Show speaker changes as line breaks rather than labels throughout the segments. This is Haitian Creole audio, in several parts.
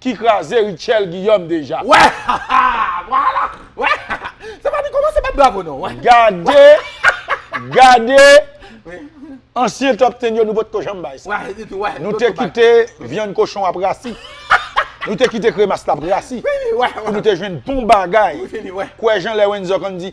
ki kraze Rutshelle Guillaume deja. Wè haha
vwala wè haha se pa li komanse bat bravo non wè. Gade gade
ansyen top ten yo nou potko janm bay sa. Nou te kite vyann kochon ap rasi. Nou te kite kremas la ap rasi pou nou te
jwenn bon
bagay. Kwè jan lè Wenzor konn di.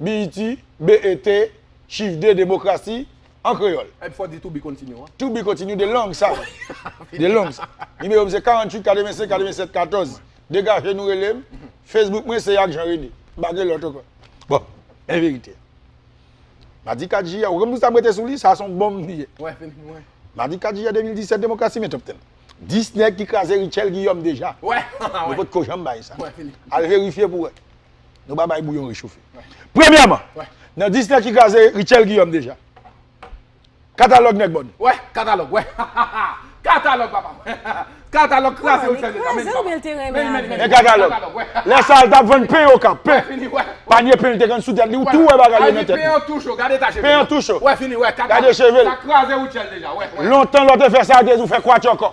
BET, BET, Chif 2, Demokrasi, an kreyòl. Ep fò di to be continue
an. To be continue de
long sa wi. De long sa. Nimewo m se 48 85 87 14. Degaje nou rele m. Facebook mwen se Yak Jean Rene. M pa gen lòt ankò. Bon, men verite a. Madi 4 jiyè, ou konn pou sa m rete sou li, sa se yon bonm li ye. Wè, fini mwen.
Madi 4
jiyè 2017, demokrasi men top ten. 10 nèg ki kraze Rutshelle Guillaume deja. Wè, wè. Yo pot
ko janm
bay sa. Wè, fini. Al verifye
pou wè.
Nou pa bay bouyon rechofe. Premyèman, nan Disney ki kraze Rutshelle Guillaume deja. Katalòg nèg bòn. Wè, katalòg, wè.
Katalòg papa m. Katalòg kraze Rutshelle deja. Men li kraze l men l te renmen avè l. Men katalòg.
Lè sa a l t ap vann pen Okap. Pen. Panye pen l te konn sou tèt li. Ou tou wè bagay yo nan tèt li. Pen an tou cho. Gade eta cheve
l. Pen an tou cho. Wè fini wè.
Gade
cheve l. Sa kraze
Rutshelle
deja. Wè. Lontan lè w te fè sa yo te
di w fè kwatyòkò.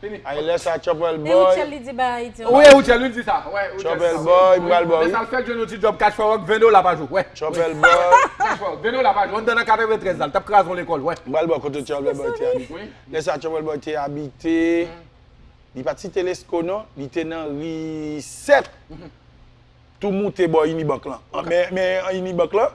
Fini. Ay lè sa Chopel
Boy. E Rutshelle li di bay Ayiti
anko. Wi e Rutshelle li di sa. Wè
Rutshelle. Chopel Boy m pral
baw wi. Lè sa l fèk jwenn yon ti djòb
Cash for Rock 20 dola pa jou. Wè. Chopel Boy. Cash for
Rock 20 dola
pa jou. Anndan nan 93 la l t ap kraze yon lekòl. Wè. M pral baw kote Chopel Boy
te abite. Wi. Lè sa Chopel Boy te abite. Li pa t site Lesko non. Li te nan ri 7. Tou moute bò Unibank lan. Men an Unibank lan.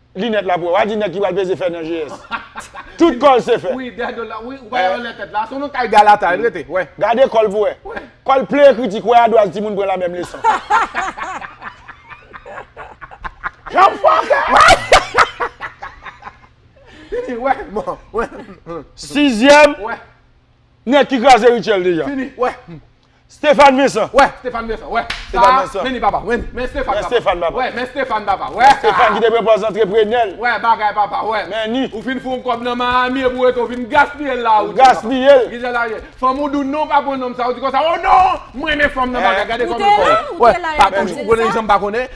Linèt la pou wè. Wa di nèg ki pral peze fè nan GS. Tout kò l se fè. Wi, dè do l la. Wi, ou
pa wè anlè tèt la. Se w nan kay Galata l rete. Wè. Gade kò l pou wè. Wè.
Kò l plen ekritik. Wè adwaz timoun pran lamenm leson. Jòf fòkè!
Fini, wè. Bon, wè. Sizyèm.
Wè.
Nèg ki
kraze Rutshelle deja. Fini, wè.
Stéphane
Vincent wè Stéphane Vincent wè
sa men li papa
wè men
Stéphane papa wè men Stéphane papa wè sa Stéphane ki te pran pòz
antreprenè l wè bagay papa
wè men ni ou fin fon
kòb nan
Miami epi ou rete ou fin gaspiye l la ou gaspiye l kijan sa
ye fanm
ou doun non ou pa pran nonm sa ou di konsa o non m renmen fanm nan bagay gade fanm nan fò wè pa konn ou konnen janm pa konnen.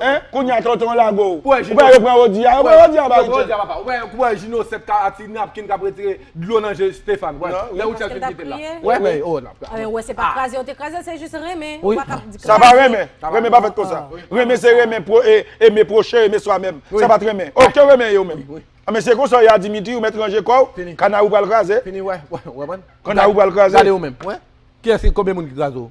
Hein
kounye a tonton
lago ou pa wè yo pran Roody
a yo
pran Roody a ba Rutshelle
ou pa wè Ginosèp ka a ti napkin kap retire dlo nan je Stéphane wè lè Rutshelle fin kitel la wè men oh nan pral wè se pa kraze yo te
krazel se jis renmen ou pa ka di kraze sa pa renmen
renmen pa fèt konsa renmen se renmen pro e eme proche eme swa menm sa pat renmen oh ke renmen ye ou menm an men se konsa ye a Dimitri ou mèt ranje kòw kanarou pral kraze fini wè wè wè wè wè
kanarou
pral kraze gade ou menm wè
kiyès ki konbyen moun ki kraze ou.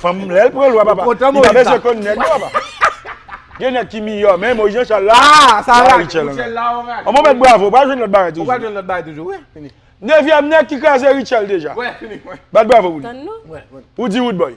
Fanm lèl pran lwa papa. Li pa bezwen konn nèg non papa. Gen nèg ki miyò men Moïse Jean Charles la. Ah sa la Richel la ou
rate.
Bon mèt bravo ou pral jwenn lòt bagay toujou. Ou pral jwenn lòt bagay toujou
wi fini. Nevyèm nèg ki
kraze
Richel deja.
Wè fini wè. Bat
bravo
pou
li. Tann nou. Wè wè.
Pou di wood
boy.